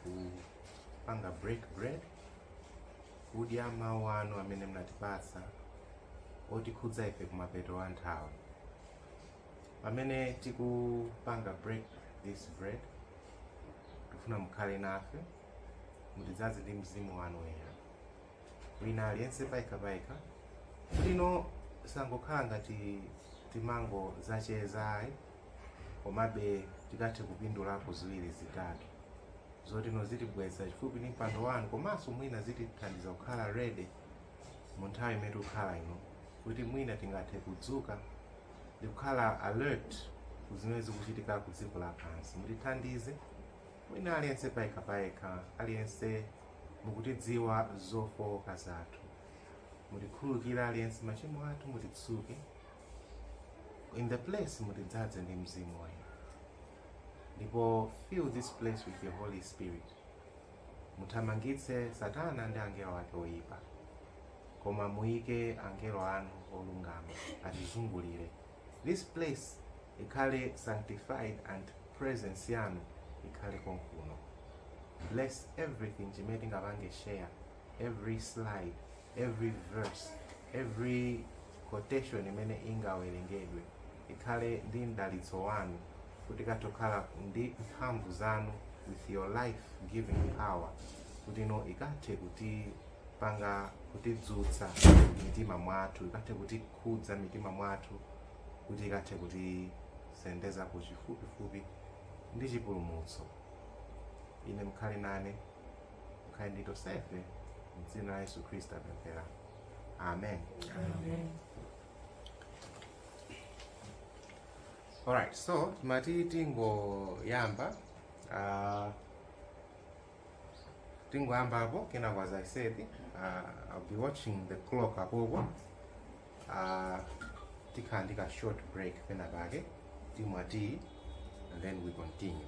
kupanga break bread kudya mawu anu amene mnatipatsa otikhudza ife kumapeto a nthawi pamene tikupanga break this bread tikufuna mukhale nafe mutidzadze ndi mzimu wanu woyera wina aliyense payekha payekha kuti ino isangokhala ngati timangodzacheza ayi komabe tikathe kupindulapo ziwiri zitatu zoti zitibweza chifupi ndi mpando wanu komanso mwina zitithandiza kukhala ready mu nthawi imene tikukhala ino kuti mwina tingathe kudzuka ndi kukhala alert ku zimene zikuchitika ku dziko lapansi mutithandize wina aliyense payekha payekha aliyense mukutidziwa zofowoka zathu mutikhululukire aliyense machimo athu mutitsuke in the place mutidzadze ndi mzimu wanu ndipo fill this place with your holy spirit muthamangitse satana ndi angelo ake oyipa koma muyike angelo anu olungama atizungulire this place ikhale sanctified and presence yanu ikhale konkuno bless everything chimene tingapange share every slide every verse every quotation imene ingawerengedwe ikhale ndi mdalitso wanu kuti ikathe kukhala ndi mphamvu zanu with your life giving power kuti ino ikathe kutipanga kutidzutsa mitima mwathu ikathe kutikhudza mitima mwathu kuti ikathe kutisendeza kufupifupi ndi chipulumutso ine mukhale nane mukhale ndi tonsefe mdzina la yesu khristu tapemphera amen alright so timati tingoyamba uh, tingoyamba apo kenako as i said uh, i'll be watching the clock apopo uh, tikhala ndi ka short break penapake timwa tea and then we continue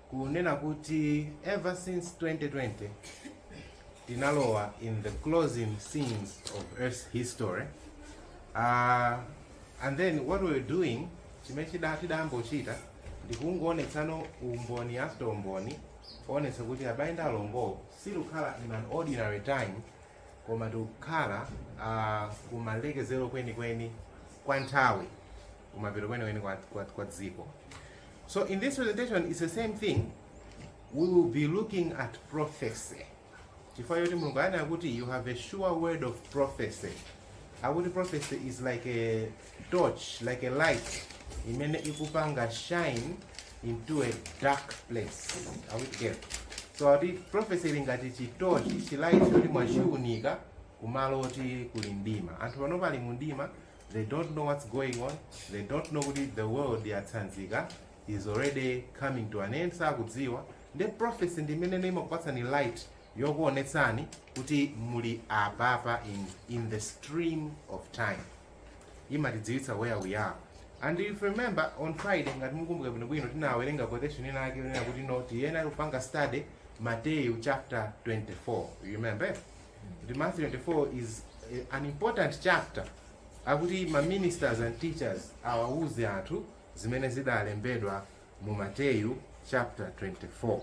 kunena kuti ever since 2020 tinalowa in the closing scenes of earth's history uh, and then what we're doing chimene chida- tidambochita ndikungoonetsana umboni after umboni kuonetsa kuti abale ndi alongo sitikukhala in an ordinary time koma tikukhala uh, kumalekezero kwenikweni kwa nthawi kumapeto kwenikweni kwa, kwa, kwa dziko So in this presentation it's the same thing we will be looking at prophecy chifukwa choti mulungu anena kuti you have a sure word of prophecy akuti prophecy is like a torch like a light imene ikupanga shine into a dark place are we together so ati prophecy ili ngati chitochi chilight choti mwachiunika kumalo oti kuli mdima anthu pano pali mu mdima they don't know what's going on, they don't know kuti the world yatsanzika is already coming to an end, sakudziwa nde prophecy ndi imenene imakupatsani light yokuonetsani kuti muli apapa in, in the stream of time imatidziwitsa where we are and if you remember on friday ngati mukumbuka bwino bwino tinawerenga quotation ina yake yonena kuti no tiyenera kupanga study mateyu chapter 24 you remember kuti Matthew 24 is eh, an important chapter akuti ma ministers and teachers awawuze anthu zimene zidalembedwa mu Mateyu chapter 24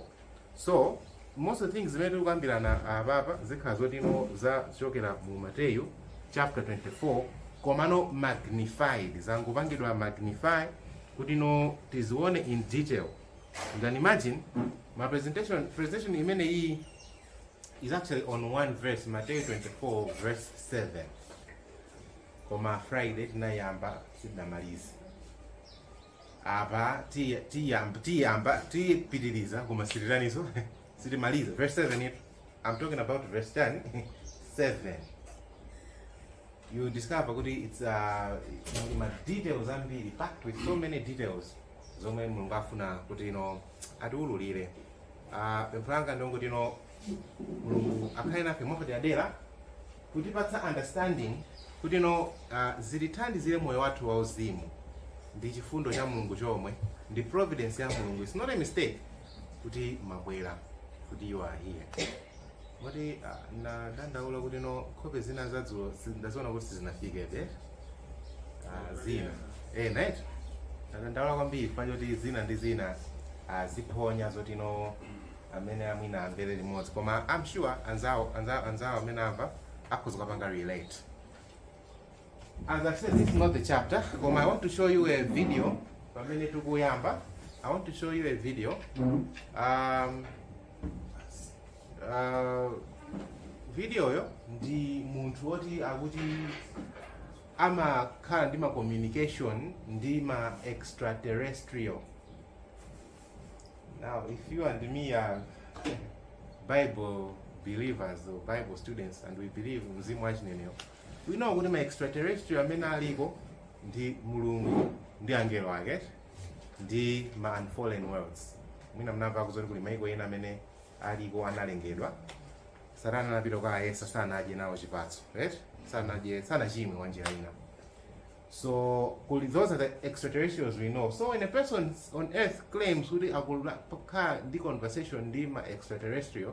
so most of the things zimene tikukambirana apapa zikhala zoti no za zochokera mu Mateyu chapter 24 komano magnified zangopangidwa magnify kuti no tizione in detail you can imagine ma presentation presentation imene iyi is actually on one verse mateyu 24 verse 7 koma friday tinayamba sitinamalize apa tiy- tiyamba tiyamba tipitiriza koma sitiraniso sitimalize verse 7 it i'm talking about verse 7 you discover kuti it's uh, muli ma details ambiri packed with so many details zomwe mulungu afuna kuti ino atiululire Ah, pempho langa ndi longoti no mulungu akhale nafe mwapaderadera kutipatsa understanding kuti no ah, zitithandizire moyo wathu wauzimu ndi chifundo cha mulungu chomwe ndi providence ya mulungu it's not a mistake kuti mwabwera kuti you are here Moti ah, nadandaula kuti no nkhope zina zadzulo ndaziona kuti sizinafikebe ah, zina eh, nayetu nadandaula kwambiri chifukwa choti zina ndi zina ah, ziphonya zoti no amene amwina amvere limodzi koma I'm sure anzawo anzawo anzawo amene amva akhoza kupanga relate As I said, this is not the chapter. Koma I want to show you a video. Pamene tukuyamba. I want to show you a video. Um, uh, video yo ndi munthu woti akuti amakhala ndi ma communication ndi ma extraterrestrial. Now, if you and me are Bible believers or Bible students and we believe mzimu wa chinenero, We know kuti ma extraterrestrial amene aliko ndi mulungu ndi angelo ake ndi ma unfallen worlds mwina mnamva kuzoti kuli maiko ena amene aliko analengedwa satana anapita kukawayesa sanadye nawo chipatso right sanadye sanachimwe mwa njira ina so kuli those are the extraterrestrials we know so when a person on earth claims kuti akukhala ndi conversation ndi ma extraterrestrial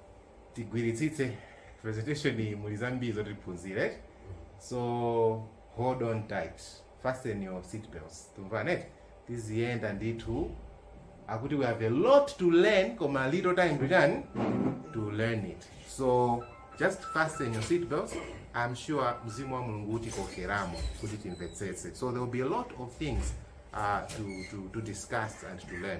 tigwiritsitse Presentation iyi muli zambiri zoti tiphunzire eti? so hold on tight fasten your seat belts tumvana eti tiziyenda ndithu akuti we have a lot to learn koma little time to learn to learn it so just fasten your seat belts i'm sure mzimu wa mulungu utikokeramo kuti timvetsetse so there will be a lot of things uh, to, to, to discuss and to learn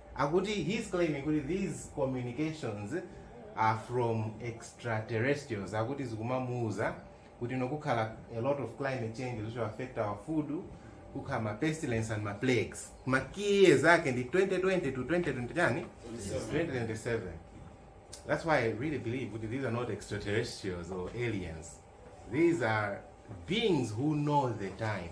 Akuti he's claiming kuti these communications are from extraterrestrials akuti zikumamuuza kuti kukhala a lot of climate change which will affect our food kukhala ma pestilence and ma plagues ma key years ake ndi 2020 to 2020 2027 that's why i really believe kuti these are not extraterrestrials or aliens these are beings who know the time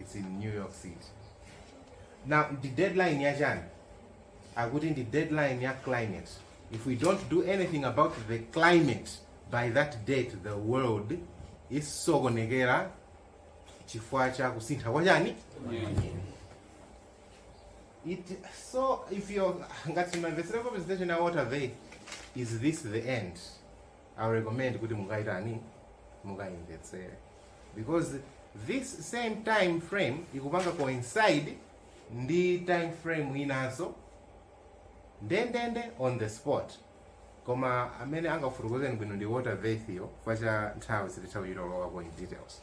it's in new york city now the deadline ya chani akuti ndi deadline ya climate if we don't do anything about the climate by that date the world isokonekera chifukwa cha kusintha kwa chani eti so if you're ngati mumamvetsera presentation ya Walter Veith is this the end I would recommend kuti mukayitani mukaimvetsere because this same time frame ikupanga coincide ndi time frame inanso ndendende on the spot koma amene angafotokozeni bwino ndi Walter Veith chifukwa cha nthawi sititha kuchitolowa in details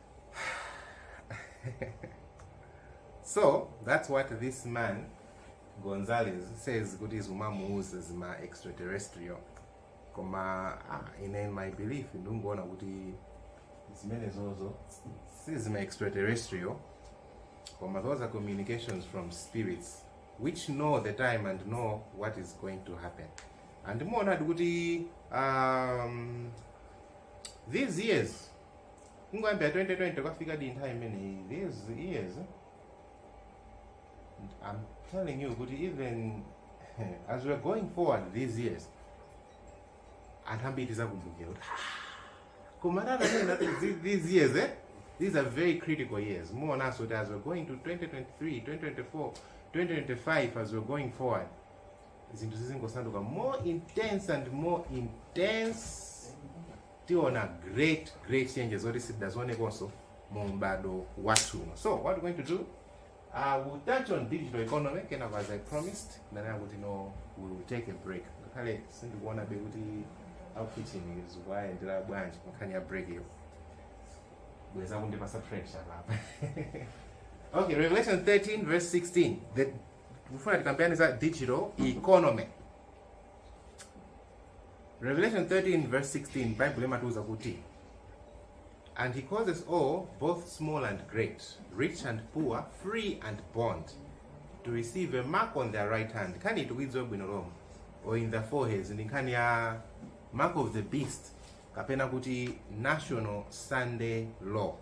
so that's what this man gonzales says kuti zimamuuza zima extraterrestrial koma ah, ine in my belief ndingoona kuti zimenezozo si zima extraterrestrial koma those are communications from spirits which know the time and know what is going to happen and muonadi kuti um, these years kungoyambira 2020 kudzafika nthawi imeneyi these years i'm telling you kuti even as we're going forward these years anthu ambiri tizakumbukira kuti "Ah, koma tananena thi- these years eh? these are very critical years muonanso kuti as we're going to 2023 2024 2025 as we're going forward zinthu zizingosanduka more intense and more intense tiona great great changes zoti sitidazionekonso mu m'bado wathu uno so what we going to do uh, we'll touch on digital economy kenako as i promised ndanena kuti no we'll take a break ngakhale sindikuonabe kuti a ku kitchen zikuwayendera bwanji pankhani ya break iyo bweza kundipasa pressure papa okay revelation 13 verse 16 ndikufuna tikambirane za digital economy Revelation 13 verse 16 Bible imatiuza kuti And he causes all, both small and great, rich and poor, free and bond, to receive a mark on their right hand. Nkhani ikudziwika bwino lomwe or in their foreheads ndi nkhani ya mark of the beast kapena kuti national sunday law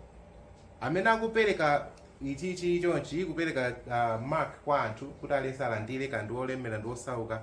amene akupereka ichichi chonchi kupereka uh, mark kwa anthu kuti aliyense alandire kaya ndi wolemera ndi osauka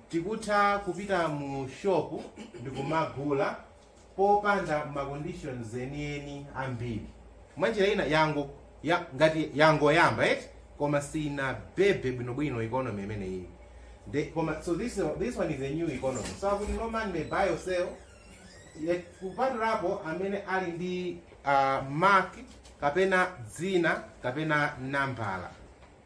Tikutha kupita mu shop ndikumagula popanda ma conditions enieni ambiri. Mwanjira ina ngati yangoyamba eti koma sinabebe bwinobwino economy imeneyiyi so this one is a new economy so akuti no man may buy or sell kupatulapo amene ali ndi uh, mark kapena dzina kapena nambala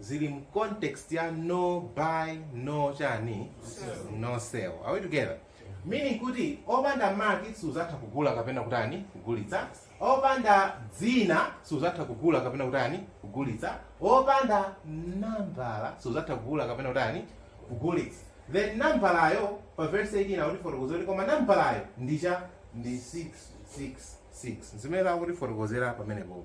zili mu context ya no buy no chani no sell are we together meaning kuti opanda mark suzatha kugula kapena kutani kugulitsa opanda dzina suzatha kugula kapena kutani kugulitsa opanda nambala suzatha kugula kapena kutani kugulitsa then nambalayo pa verse 18 akutifotokozera kuti koma nambalayo ndi cha ndi 666 zimene akutifotokozera pamenepopo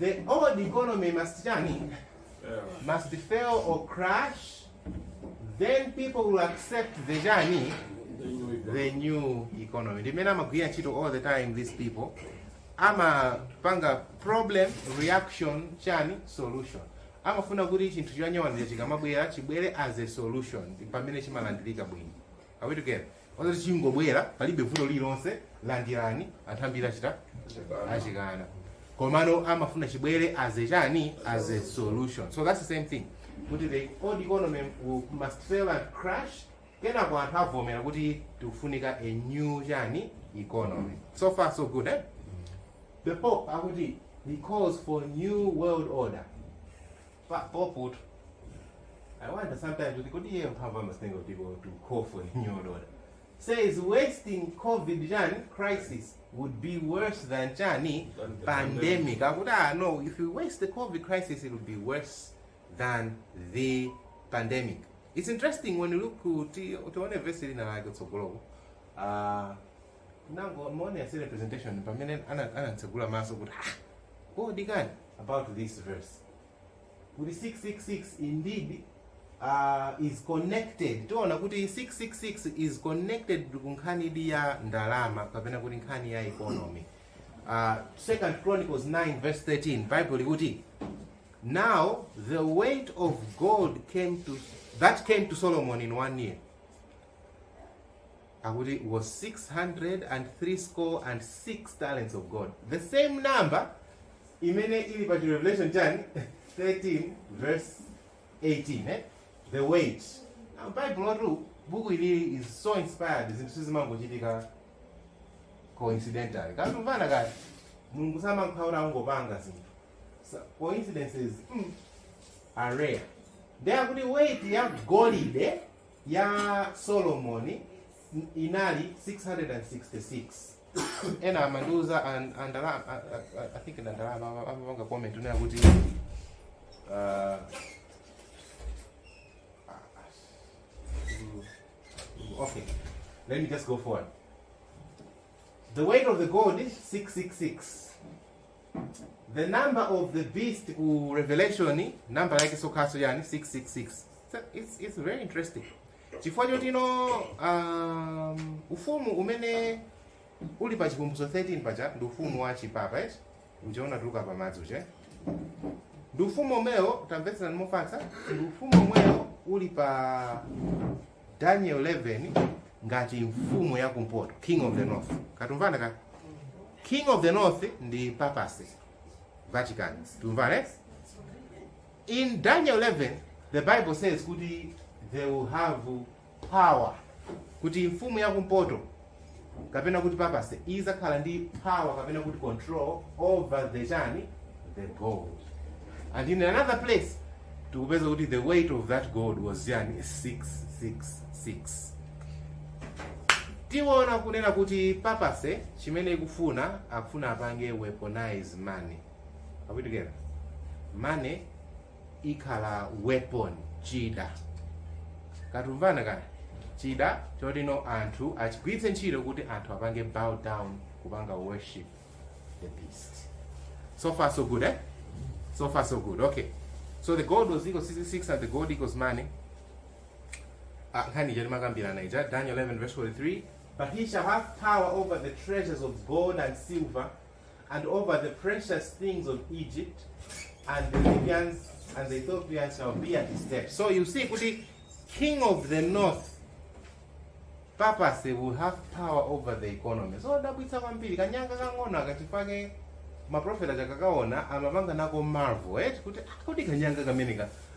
the old economy must chani must fail or crash then people will accept the chani the new economy ndi mmene amagwirira ntchito all the time these people amapanga problem reaction chani solution amafuna kuti chinthu chonyowanicho chikamabwera chibwere as a solution pamene chimalandirika bwino Are we together? Osati chingobwera palibe vuto lililonse landirani anthu ambiri atha achikana. Komano amafuna chibwere as a chani as a solution. So that's the same thing. Kuti the old economy will- must fail and crash. Kenako anthu avomera kuti tikufunika a new chani economy. So far so good eh? The Pope akuti he calls for new world order. Pope-tu. I wonder sometimes kuti kodi iye mphamvu amazitenga kuti to call for a new world order. Says wasting COVID chani crisis would be worse than chani? Than the pandemic. Akuti no, if you waste the COVID crisis it will be worse than the pandemic. It's interesting when you look kuti tione verse lina lake tsogoloko. Ah amene anapanga presentation amene ana- anatsegula maso kuti ah kodi kani about this verse kuti 666 indeed is connected tiona kuti 666 is connected ku nkhanidi ya ndalama kapena kuti nkhani ya economy uh, second chronicles 9 verse 13 bible likuti now the weight of gold that came to solomon in one year akuti was six hundred and threescore and six talents of gold the same number imene ili pa Revelation chani 13 verse 18 eh? the weight now bible buku ilili is so inspired zinthu sizimangochitika coincidentally kaya tikumvana kaya mulungu samakhala akungopanga zinthu So, coincidences mm, are rare ndiye akuti weight ya golide ya Solomoni n- inali 666 wina amandiuza an- andala- a- a- a- I think ndi andalama ama- amapanga comment kunena kuti uh, okay let me just go forward the weight of the gold 666 the number of the beast ku revelation number yakenso kanso ndi chani 666 so it's, it's very interesting chifukwa choti no um, ufumu umene uli pa Chivumbulutso 13 paja ndi ufumu wa chipapa eti uja unatuluka pa madzi uja ndi ufumu omwewo tamvetserani mofatsa ndi ufumu omwewo uli pa Daniel 11 ngati mfumu ya kumpoto, king of the north. Kaya tikumvana kaya? King of the north ndi papacy, Vatican. Tikumvana? eh? In Daniel 11, the Bible says kuti they will have power. Kuti mfumu ya kumpoto kapena kuti papacy izakhala ndi power kapena kuti control over the chani the gold and in another place tikupeza kuti the weight of that gold was chani 666 tiona kunena kuti papacy chimene ikufuna akufuna apange weaponize money are we together money ikhala weapon chida katumvana kana chida chotino anthu achigwiritse ntchito kuti anthu apange bow down kupanga worship the beast so far so good eh? so far so good okay so the gold was equals 66 and the gold equals money Ah, nkhani ija timakambirana ija daniel 11 verse 43 but he shall have power over the treasures of gold and silver and over the precious things of Egypt, and the Libyans and the Ethiopians shall be at his steps. So you see, kuti king of the north papacy will have power over the economy. Zodabwitsa kwambiri kanyanga kang'ono kachifake maprofeta akakaona amapanga nako marvel eh kuti ah, kuti kanyanga kameneka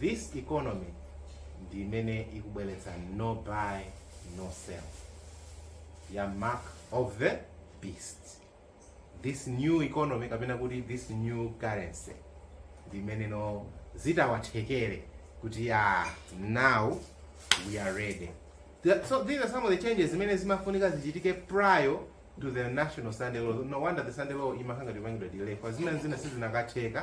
This economy ndi imene ikubweretsa no buy no sell ya mark of the beast. This new economy kapena kuti this new currency ndi imeneno zitawathekere kuti ah, now we are ready. The- So these are some of the changes zimene zimafunika zichitike prior to the national Sunday law. No wonder the Sunday law imakhala ngati ikupangidwa delay. Because zina sizinatheke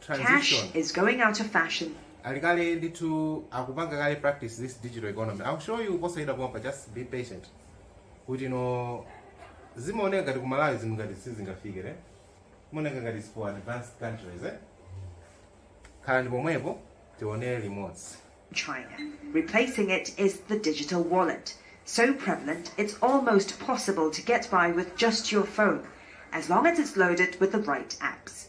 Cash transition is going out of fashion. ali kale ndithu akupanga kale practice this digital economy i'll show you posayida pompa just be patient kuti no zimaoneka ngati ku malawi zinthu ngati sizingafike ne zimaoneka ngati is for advanced countries eh khalani pomwepo tione limodzi China. Replacing it is the digital wallet, so prevalent it's almost possible to get by with just your phone, as long as it's loaded with the right apps.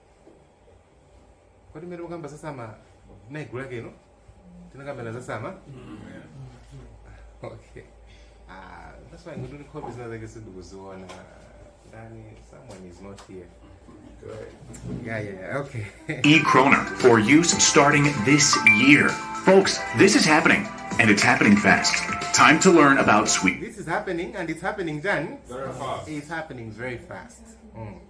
kodi mmene mukamba za sama naigulu lake ino tinakambira za sama okay ah that's why ngoti nkhope zina zake sindikuziona ndani someone is not here yeah yeah yeah, okay E. Kroner for use starting this year. Folks, this is happening, and it's happening fast. Time to learn about sweet. this is happening and it's happening then it's happening very fast mm.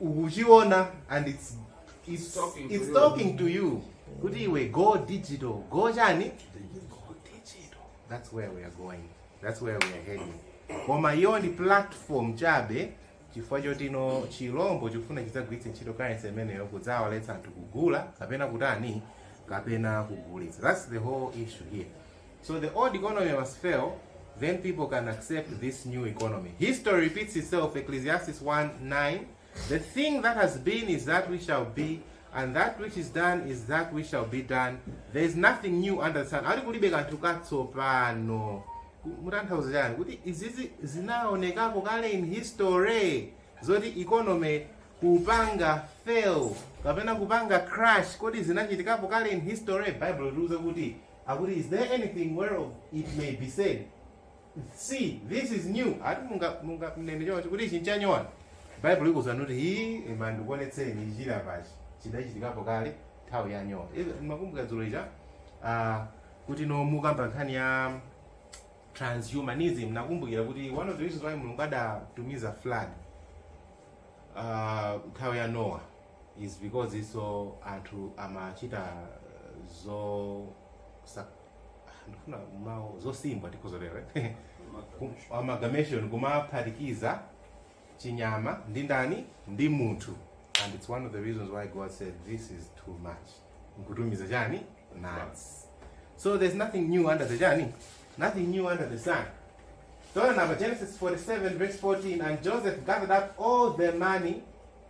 ukuchiona and it's, it's, it's talking to you kuti iwe go digital go chani go digital that's where we are going that's where we are heading koma iyo ndi platform chabe chifukwa choti no chilombo chikufuna chidzagwiritse ntchito currency imeneyo kudzawaletsa anthu kugula kapena kutani kapena kugulitsa that's the whole issue here So the old economy must fail, then people can accept this new economy. History repeats itself, Ecclesiastes 1 9. The thing that has been is that which shall be, and that which is done is that which shall be done. There is nothing new under the sun. Ati kulibe kanthu katsopano. Ku- kutanthauza chani kuti izizi zinaonekapo kale in history zoti economy kupanga fail kapena kupanga crash kodi zinachitikapo kale in history bible likuwuza kuti akuti is there anything whereof it may be said see this is new ati munga munga mnene choncho kuti ichi nchanyowa bible ikunena kuti hii ima ndikuonetseni chija pachi chidachitikapo kale nthawi ya Nowa Izi- ndimakumbuka dzulo ija ah, kuti no mukamba nkhani ya transhumanism nakumbukira kuti one of the reasons why mulungu adatumiza flood ah, nthawi ya Nowa is because isu anthu amachita zosa ndifuna mawu zosimbwa tikhoza kutero eh? Kum- amalgamation kumaphatikiza chinyama ndi ndani ndi munthu and it's one of the reasons why god said this is too much nkutumiza chani madzi so there's nothing new under the chani nothing new under the sun So now Genesis 47 verse 14 and Joseph gathered up all the money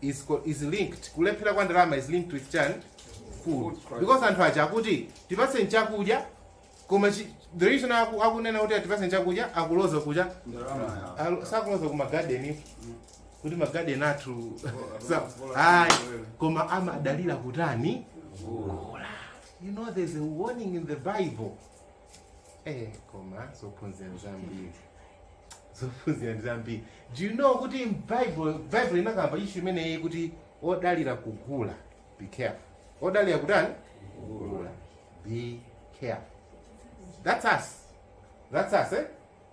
is, co- is linked kulephera kwa ndalama is linked with chani food because anthu aja akuti tipatse chakudya koma chi- the reason aku- akunena kuti tipatseni chakudya akuloza kuja Alo- sakuloza ku magarden kuti magarden athu sa- ayi koma amadalira kutani you know there's a warning in the bible Eh, koma zophunzira ndi zambiri zophunzira ndi zambiri do you know kuti bible bible inakamba issue imeneyi kuti odalira kugula be careful odalira kutani kugula be careful that's us that's us eh?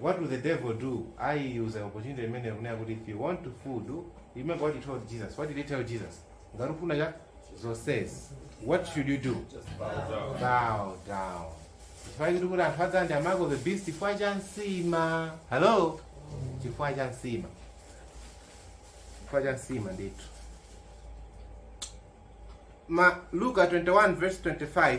What will the devil do? Ayuza opportunity imeneyi kunena kuti if you want to food, you remember what he told Jesus. What did he tell Jesus? Ngati ufuna cha zonsezi. What should you do? Bow down. Chifukwa chiti kuti anthu adzalandire mark of the beast chifukwa cha nsima. Hello? Chifukwa cha nsima. Chifukwa cha nsima ndithu. Luka 21 verse 25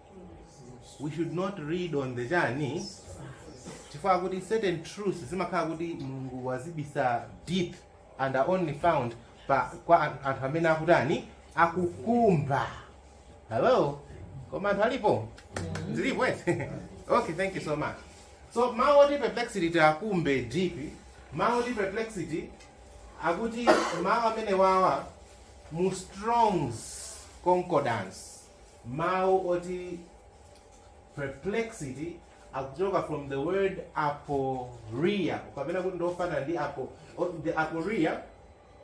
we should not read on the chani chifukwa kuti certain truths zimakhala kuti mulungu wazibisa deep and are only found kwa an- anthu amene akutani akukumba hello koma anthu alipo zilipo eti okay thank you so much so mawu oti perplexity tiakumbe deep mawu oti perplexity akuti mawu amene wawa mu strong's concordance Mawu oti perplexity akuchoka from the word aporia kapena kuti ndiofanana ndi apo- the aporia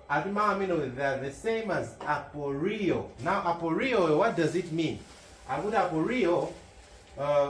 ati mawu amenewo they are the same as aporio now aporio what does it mean akuti aporio uh,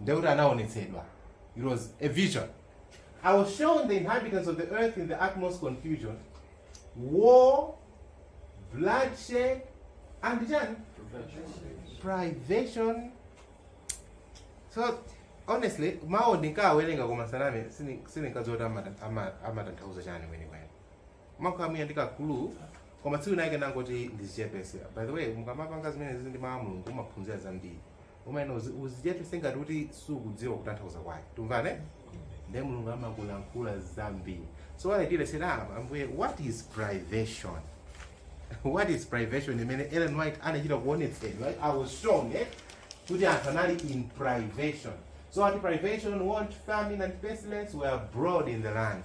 ndiye kuti anaonetsedwa it was a vision i was shown the inhabitants of the earth in the utmost confusion war bloodshed and chani privation so honestly mawuwo ndinkawerenga koma saname sini- sindinkadziwa kuti amata- ama- amatanthauza chani kwenikweni nkakhala mwina ndi ka clue koma tsiku linake ndangoti ndizichepese by the way mukamapanga zimene zili ndi mawu a mulungu umaphunzira zambiri umayenera uzichepese ngati kuti sukudziwa kutanthauza kwake tumvane ndiye mulungu amakulankhula zambiri so what i did i said ah ambuye what is privation what is privation imene ellen white anachita kuonetsedwa right? i was shown eh? kuti anthu anali in privation so ati privation want famine and pestilence were abroad in the land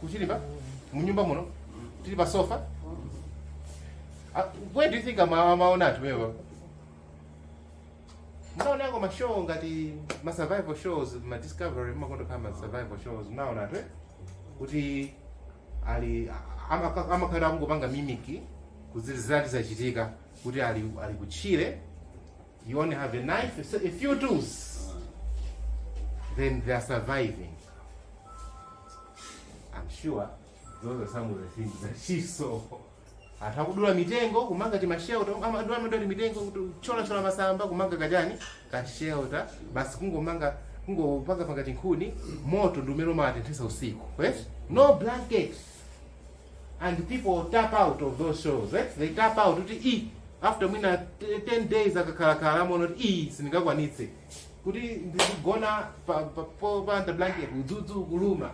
kutchire pa m'nyumba muno tili pa sofa Ah, where do you think ama- amaona ati wewe mnaonako mashow ngati ma survival shows ma discovery mmakonda khala ma survival shows mnaona ati kuti ali amaka- amakhala akungopanga mimiki kuzilizirati zachitika kuti ali ali kutchire You only have a knife, so a few tools. Then they are surviving. I'm sure those are some of the things that she saw. Atha kudula mitengo kumanga timashelta amadula amadula mitengo kucholachola masamba kumanga kachani kashelta basi kungomanga kungopanga panga chikhuni moto ndi umene umawatenthesa usiku yes? no blankets and people tap out of those shows eh? they tap out kuti i after mwina t- 10 days akakhalakhala amaona kuti i sindingakwanitse kuti ndizigona pa- pa- po- panda blanket udzudzu kuluma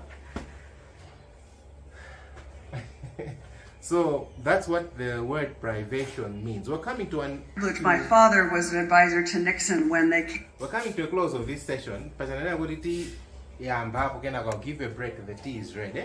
so that's what the word privation means we're coming to an Look, my father was an advisor to Nixon when they came. We're coming to a close of this session. Pachananena kuti ti yamba apo kenako I'll give you a break. The tea is ready.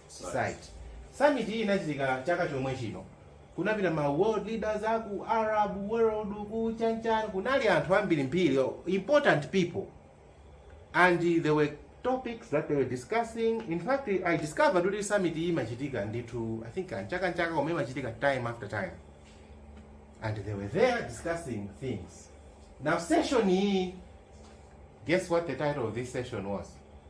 Society. Summit iyi inachitika chaka chomwe chino. Kunapita ma world leaders a ku Arab world ku chanchan kunali anthu ambiri mbiri o- important people and there were topics that they were discussing in fact i discovered kuti summit iyi imachitika ndithu i think chaka ndi chaka chomwe imachitika time after time and they were there discussing things now session iyi guess what the title of this session was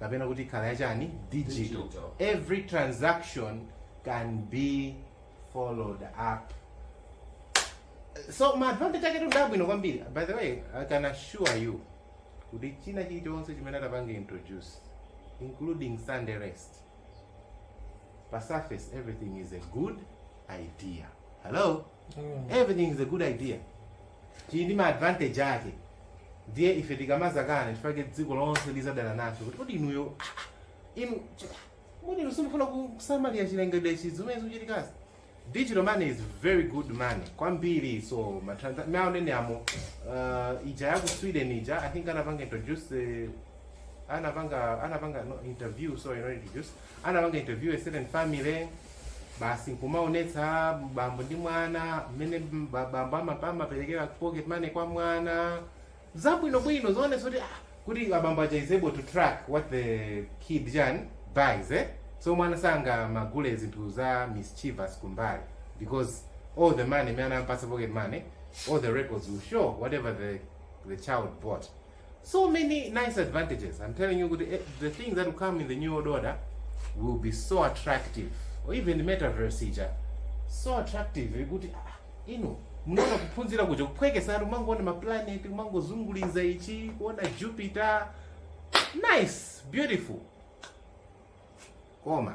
kapena kuti ikhala yachani digital Digital. every transaction can be followed up so maadvantage ake ndi abwino kwambiri by the way i can assure you kuti china chilichonse chimene atapange introduce including sunday rest pa surface everything is a good idea hello everything is a good idea chili ndi maadvantage ake ndiye ife tikamazakana chifukwa chake dziko lonse lizadana nacho kuti kodi inuyo ah, ah, inu ch- kodi inu simufuna ku- kusamalira chilengedwe ndi zimene zikuchitikazi digital money is very good money kwambiri so matransa- maonedwe amo uh, ija yaku sweden ija i think anapanga introduce eh, anapanga anapanga no, interview sorry not introduce anapanga interview a certain family basi nkumaonetsa bambo ndi mwana mmene ba- bambo ama- amaperekera pocket money kwa mwana zabwinobwino zoonetsa kuti ah, kuti abambo aja is able to track what the kid chani buys eh? so mwana sangamagule zinthu za mischievous kumbali because all the money imene anampasa pocket money all the records will show whatever the, the child bought so many nice advantages i'm telling you kuti eh, the things that will come in the new world order will be so attractive or even metaverse ija so attractive kuti ah, inu munaona kuphunzira kuja kuphwekesatu kumangoona maplaneti kumangozunguliza ichi kuona jupiter nice beautiful koma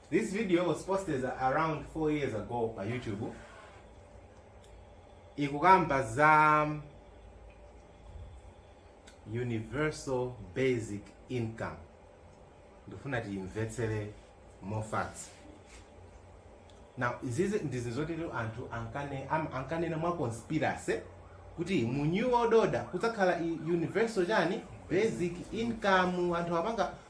This video was posted around 4 years ago pa YouTube. Ikukamba za universal basic income. Ndifuna tiimvetsere more facts. Now, izizi ndizi zoti lero anthu ankane am- ankanena mwa conspiracy kuti mu new world order kudzakhala i- universal chani basic income anthu apanga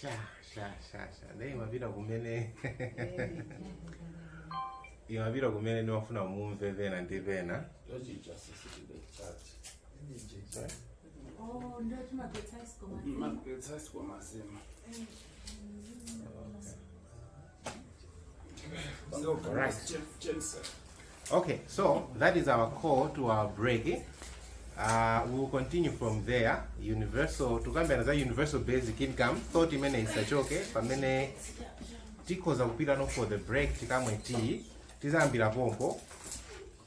sha sha sha sha naye imapita kumene imapita kumene ndimafuna mumve pena ndi pena magetsi asikwa mazima Right. Okay, so that is our call to our break. Uh, we will continue from there. Universal, tukambira za universal basic income, thought imene isachoke pamene tikhoza kupita no for the break tikamwe tea tizayambira pompo